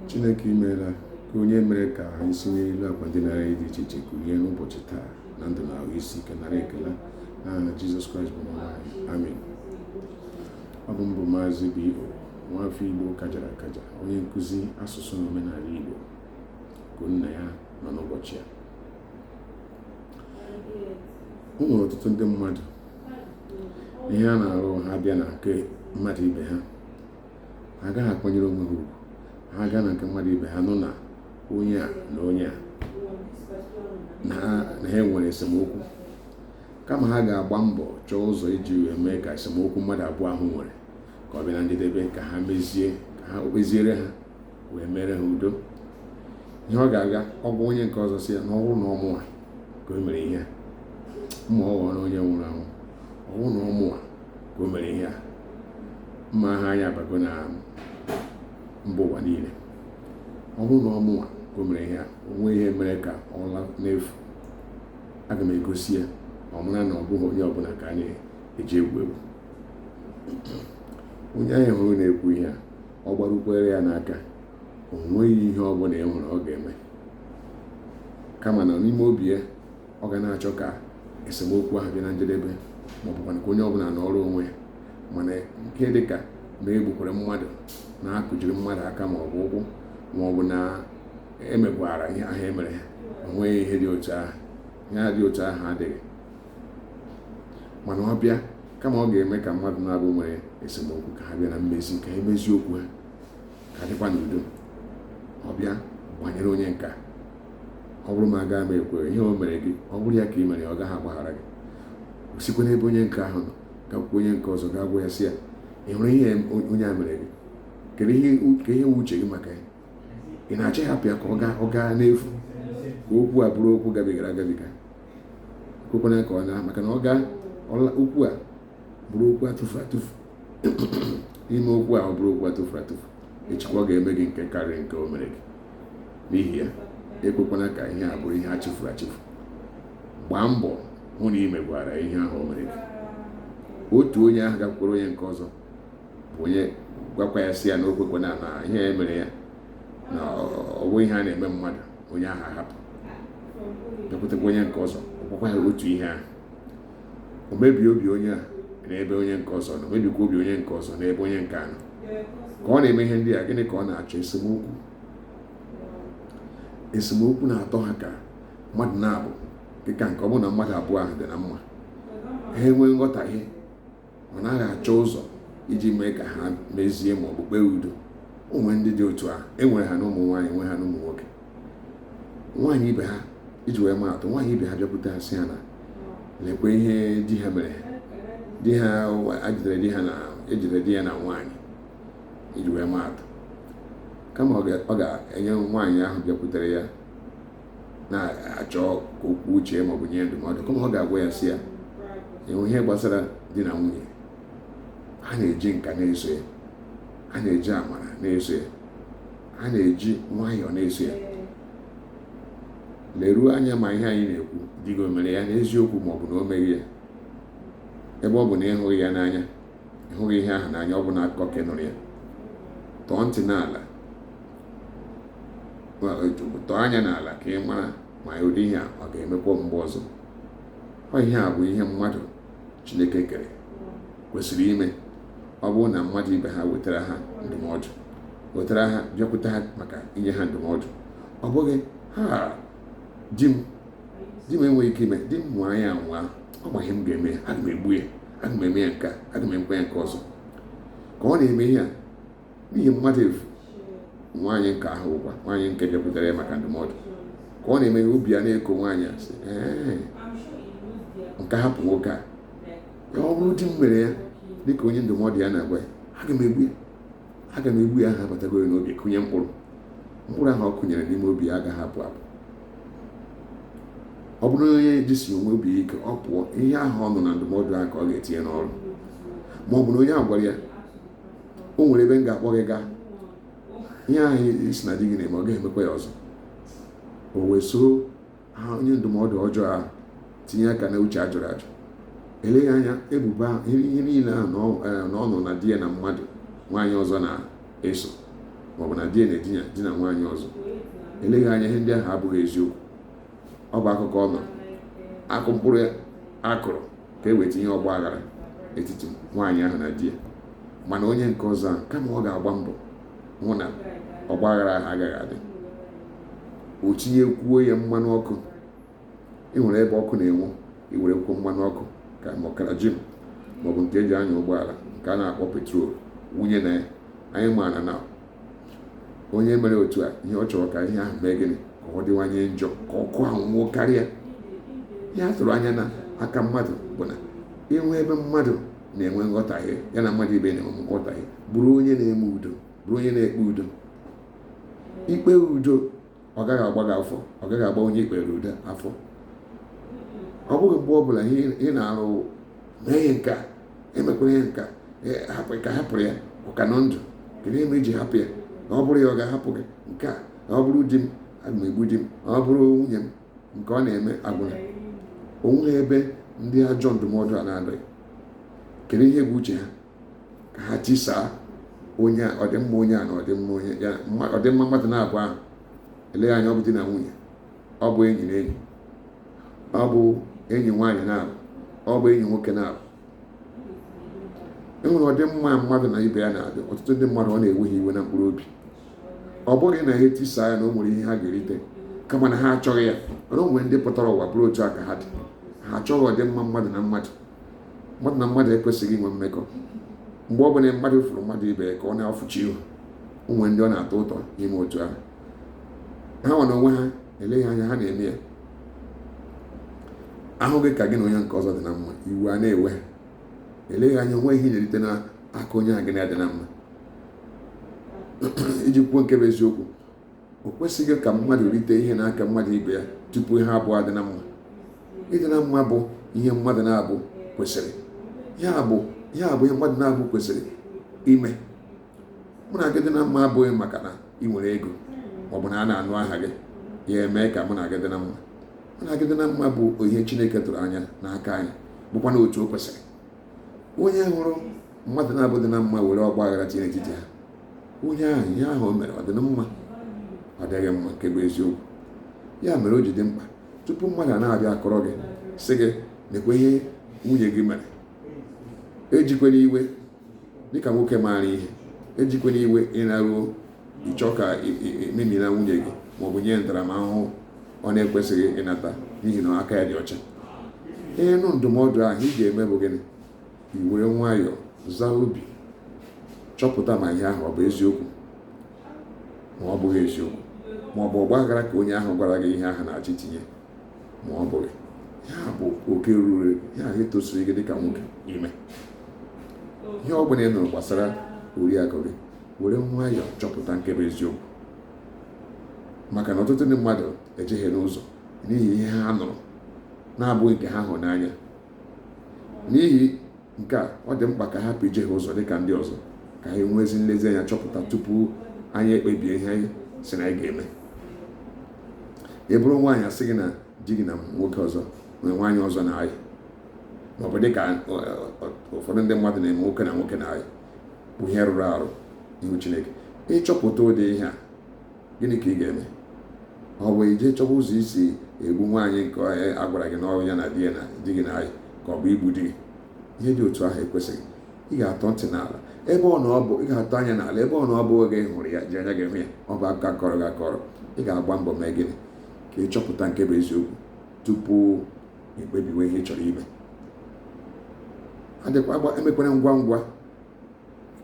chineke imeela ka onye mere ka anyị si n'elu akwa ndina anyị dị iche iche kulie n'ụbọchị taa na ndụ na ahụ isi ike nara ekele n'aha jizọs kraịst bụ onye nwe anyị amen ọ bụ m bụ maazị bo nwafọ igbo kajara akaja onye nkụzi asụsụ na omenala igbo ka unu na ya nọ n'ụbọchị a o nwere ọtụtụ ndị mmadụ ihe a na-ahụ ha bịa na nke mmadụ ibe ha ha agaghị akwanyere onwe ha ugwu ha gaa na nke mmadụ ibe ha nụ na onye a na onye a na ha nwere esemokwu kama ha ga-agba mbọ chọọ ụzọ iji wee mee ka esemokwu mmadụ abụọ ahụ nwere ka ọ bịa na njedebe ka ha mezie ka ha kpeziere ha wee mere ha udo ihe ọ ga-aga ọ gwa onye nke ọzọ sị ya na ọ bụrụ na ọ mụwa ka o mere ihe ma ọ ghọrọ onye nwụrụ anwụ ọ bụrụ na ọ mụwa ka o mere ihe a ma aha anyị abago na mba ụwa niile ọ bụrụ na ọ mụwa ka o mere ihe a o nweghị ihe mere ka ọ laa n'efu aga m egosi ya ọ mara na ọ bụghị onye ọbụla ka a na-eji egwu egwu onye anyị hụrụ na-ekwu ihe a ọ gbarukwere ya n'aka o nweghị ihe ọ bụla ị hụrụ ọ ga-eme kama na n'ime obi ya ọ ga na-achọ ka esemokwu ahụ bịa na njedebe ma ọ bụkwa ka onye ọbụla nọrọ onwe ya mana nke dị ka na egbukwere mmadụ na akụjiri mmadụ aka ma ọ bụ ụkwụ ma ọ bụ na emegwara ihe ahụ emere ha o nweghị ihe dị otu ahụ ihe dị otu ahụ adịghị mana ọ bịa kama ọ ga-eme ka mmadụ naabọ nwere esemokwu ka ha bịa na mmezi ka e mezie okwu ha ka a dịkwa n'udo ọ bịa gbanyere onye nke a ọ bụrụ m agaghị m ekwere ihe o mere gị ọ bụrụ ya ka ị mere ọ gaghị agbaghara gị o sikwa n'ebe onye nke ahụ nọ gakwukwa onye nke ọzọ gaa gwa ya sị ya ị hụrụ ihe onye a mere gị kedu ihe bụ uche gị maka ya ị na-achọ ịhapụ ya ka ọ gaa ọ gaa n'efu ka okwu a bụrụ okwu gabigara agabiga ekwekwana ka ọ na maka na ọ gaa okwu a bụrụ okwu atụfu atụfu i mee okwu ahụ bụrụ okwu atụfu atụfu echikwa ọ ga-eme gị nke karịrị nke o mere gị n'ihi ya ekwekwana ka ihe a bụrụ ihe a chefuru achefu gbaa mbọ hụ na ị megwara ihe ahụ o mere gị otu onye ahụ gakwukwara onye nke ọzọ bụ onye gwakwa ya sị ya na o na ihe e mere ya na ọ bụghị ihe a na-eme mmadụ onye ahụ ahapụ bịakwutekwa onye nke ọzọ ọ gwakwa ya otu ihe ahụ o mebie obi onye a n'ebe onye nke ọzọ nọ mebikwa obi onye nke ọzọ n'ebe onye nke a nọ ka ọ na-eme ihe ndị a gịnị ka ọ na-achọ esemokwu esemokwu na-atọ ha ka mmadụ naabọ dịka nke ọ bụrụ na mmadụ abụọ ahụ dị na mma ha enwee nghọtahie ọ naghị achọ ụzọ iji mee ka ha mezie ma ọ bụ kpee udo o nwere ndị dị otu ahụ enwere ha na ụmụ nwaanyị enwere ha na ụmụ nwoke nwaanyị ibe ha iji wee maa atụ nwaanyị ibe ha bịakwute ha sị ha na lekwa ihe di ha mere di ha ejidere di ha na ejidere di ya na nwaanyị iji wee maa atụ kama ọ ga-enye nwaanyị ahụ bịakwutere ya na-achọ okwu uche maọbụ nye ndụmọdụ kama ọ ga-agwa ya sị ya e nwee ihe gbasara di na nwunye a na-eji nka na-eso ya a na-eji amara na-eso ya a na-eji nwayọọ na-eso ya leruo anya ma ihe anyị na-ekwu di gị o mere ya n'eziokwu maọbụ na o meghị ya ebe ọ bụ na ịhụghị ya n'anya ịhụghị ihe ahụ n'anya ọ bụ na akụkọ ka ị nụrụ ya tọọ ntị n'ala tọọ anya n'ala ka ị mara ma ụdị ihe a ọ ga-emekwa mgbe ọzọ ọ ihe a bụ ihe mmadụ Chineke kere kwesịrị ime ọ bụrụ na mmadụ ibe ha wetara ha ndụmọdụ wetara ha bịakwute ha maka inye ha ndụmọdụ ọ bụghị ha di m di m enweghị ike ime di m nwaa ya anwa ọ ma ihe m ga-eme ya aga m egbu ya aga m eme ya nke a aga m emekwa ya nke ọzọ ka ọ na-eme ihe a n'ihi mmadụ efu nwaanyị nke ahụkwa nwaanyị nke bịakwutere ya maka ndụmọdụ ka ọ na-eme obi ya na-eko nwaanyị asị nke hapụ nwoke a ọ bụrụ di m mere ya dịka onye ndụmọdụ ya na-agwa ya aga m egbu ya aga m egbu ya ahụ abatagoro n'obi kụnye mkpụrụ mkpụrụ ahụ ọ kụnyere n'ime obi ya agaghị apụ apụ ọ bụrụ na onye jisi onwe obi ike ọ pụọ ihe ahụ ọ nụrụ na ndụmọdụ ahụ ka ọ ga-etinye n'ọrụ ma ọ bụ na onye agwara ya o nwere ebe m ga-akpọ gị gaa ihe ahụ ị sị na di gị na-eme ọ gaghị emekwa ya ọzọ o wee soro ha onye ndụmọdụ ọjọọ ahụ tinye aka na uche ajụrụ ajụ eleghị anya ebubo ahụ ihe niile ahụ e, na ọ nụrụ na di ya na mmadụ nwaanyị ọzọ na-eso maọbụ na di ya na-edina nwaanyị ọzọ eleghị anya ihe ndị ahụ abụghị eziokwu ọ bụ akụkọ ọ nọ akụ mkpụrụ a kụrụ ka e wee tinye ọgba aghara n'etiti nwaanyị ahụ na di ya mana onye nke ọzọ ahụ kama ọ ga-agba mbọ hụ na ọgba aghara ahụ agaghị adị o tinyekwuo ya mmanụ ọkụ ị nwere ebe ọkụ na-enwu i werekwuo mmanụ ọkụ ka ma ọ kerosene maọbụ nke eji anya ụgbọala nke a na-akpọ petrol wụnye na ya anyị maara na onye mere otu a ihe ọ chọrọ ka ihe ahụ mee gịnị ka ọ dịwanye njọ ka ọkụ ahụ nwuo karịa ihe a tụrụ anya n'aka mmadụ bụ na i nwee ebe mmadụ na-enwe nghọtahie ya na mmadụ ibe na-enwe nghọtahie bụrụ onye na-eme udo bụrụ onye na-ekpe udo ikpe udo ọ gaghị agba gị afọ ọ gaghị agba onye ikpere ude afọ ọ bụghị mgbe ọ bụla ị na-arụ mee ihe nke a emekwere ihe nke a hapụrụ ya ọ ka nọ ndụ kedu ihe i ji hapụ ya na ọ bụrụ ya ọ ga-ahapụ gị nke a na ọ bụrụ di m aga m egbu di m na ọ bụrụ nwunye m nke ọ na-eme agwụla o nweghị ebe ndị ajọ ndụmọdụ a na-adịghị kedu ihe bụ uche ha ka ha tisaa onye a ọdịmma onye a na ọdịmma onye ya mma- ọdịmma mmadụ naabọ ahụ eleghị anya ọ bụ di na nwunye ọ bụ enyi na enyi ọ bụ enyi nwaanyị naabọ ọ bụ enyi nwoke naabọ e nwere ọdịmma mmadụ na ibe ya na-adị ọtụtụ ndị mmadụ ọ na-ewe ha iwe na mkpụrụ obi ọ bụghị na ha etisa ya na o nwere ihe ha ga-erite kama na ha achọghị ya mana o nwere ndị pụtara ụwa bụrụ otu a ka ha dị ha achọghị ọdịmma mmadụ na mmadụ mmadụ na mmadụ ekwesịghị inwe mmekọ mgbe ọbụla mmadụ fụrụ mmadụ ibe ka ọ na-afụchi ihu o nwere ndị ọ na-atọ ụtọ ime otu ahụ hanwa n'onwe ha eleghị anya ha na-eme ya a hụ gị ka gị na onye nke ọzọ dị na mma iwe a na-ewe ha eleghị anya o nwere ihe ị na-erite n'aka onye a gị na ya dị na mma iji kwuo nke bụ eziokwu o kwesịghị ka mmadụ rite ihe n'aka mmadụ ibe ya tupu ha abụọ adị na mma ịdị na mma bụ ihe mmadụ naabọ kwesịrị ya bụ ihe mmadụ naabọ kwesịrị ime mụ na gị dị na mma abụghị maka na ị nwere ego maọbụ na a na-anụ aha gị ya eme ka mụ na gị dị na mma mụ na gị dị na mma bụ ihe Chineke tụrụ anya n'aka anyị bụkwanụ otu o kwesịrị onye hụrụ mmadụ naabọ dị na mma were ọgba aghara tinye n'etiti ha onye ahụ ihe ahụ o mere ọ dị na mma ọ dịghị mma nke bụ eziokwu ya mere o ji dị mkpa tupu mmadụ a na-abịa akọrọ gị sị gị nekwa ihe nwunye gị mere ejikwela iwe dịka nwoke maara ihe ejikwela iwe ị naruo ịchọ ka i memina nwunye gị maọbụ nye ntaramahụhụ ọ na-ekwesịghị ịnata n'ihi na aka ya dị ọcha ị nụ ndụmọdụ ahụ ihe ị ga-eme bụ gịnị i were nwayọọ zaa obi chọpụta ma ihe ahụ ọ bụ eziokwu ma ọ bụghị eziokwu ma ọ bụ ọgbaghara ka onye ahụ gwara gị ihe ahụ na-achọ itinye ma ọ bụghị ya bụ oke ruru ya ahụ etosiri gị dịka nwoke ime ihe ọ bụla ị nụrụ gbasara oriakụ gị were nwayọọ chọpụta nke bụ eziokwu maka na ọtụtụ ndị mmadụ ejehiena ụzọ n'ihi ihe ha nụrụ na-abụghị nke ha hụ n'anya n'ihi nke a ọ dị mkpa ka a hapụ ijehie ụzọ dị ka ndị ọzọ ka anyị nwee ezi nlezianya chọpụta tupu anyị ekpebie ihe anyị sị na anyị ga-eme ị bụrụ nwaanyị a sị gị na di gị na nwoke ọzọ nwaanyị ọzọ na-ayị maọbụ dị ka ụfọdụ ndị mmadụ na-eme nwoke na nwoke na-ayị bụ ihe rụrụ arụ n'ihu chineke ị chọpụta ụdị ihe a gịnị ka ị ga-eme ọ bụ ije chọwa ụzọ i si egbu nwaanyị nke onye a gwara gị na ọ bụ ya na di ya na di gị na-ayị ka ọ bụ igbu di gị ihe dị otu ahụ ekwesịghị ị ga-atọ ntị n'ala ebe ọ na ọ bụ ị ga-atọ anya n'ala ebe ọ na-abụghị gị hụrụ ya ji anya gị hụ ya ọ bụ a kọọrọ gị akọrọ ị ga-agba mbọ mee gịnị ka ị chọpụta nke bụ eziokwu tupu i kpebiwe ihe ị chọrọ ime adịkwa agba emekwere ngwa ngwa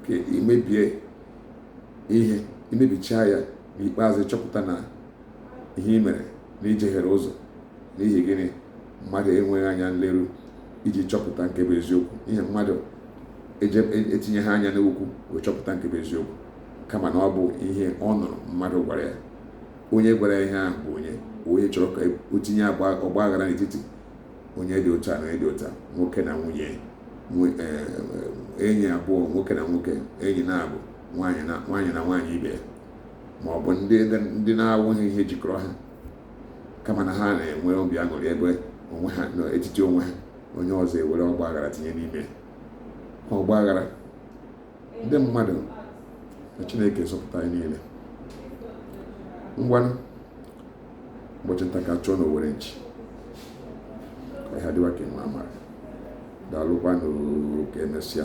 ka i mebie ihe i mebichaa ya n'ikpeazụ chọpụta na ihe i mere na i jehiere ụzọ n'ihi gịnị mmadụ enweghị anya nleru iji chọpụta nke bụ eziokwu ihe mmadụ etinyeghị anya n'okwu wee chọpụta nke bụ eziokwu kama na ọ bụ ihe ọ nụrụ mmadụ gwara ya onye gwara ya ihe ahụ bụ onye onye chọrọ ka o tinye ọgba aghara n'etiti onye dị otu a na ịdị ụta nwoke na nwunye enyi abụọ nwoke na nwoke enyi n'abụọ nwaanyị na nwaanyị na nwaanyị ibe ya ma ọ bụ ndị na-enweghị ihe jikọrọ ha kama na ha na-enwe obi aṅụrị ebe onwe ha n'etiti onwe ha onye ọzọ ewere ọgba aghara tinye n'ime ọgba aghara ndị mmadụ ka Chineke zọpụta anyị niile ngwanụ ụbọchị nta ka a chụọ n'owere nchi ọhịa dịwa ka enwe amara daalụkwanụ ka emesịa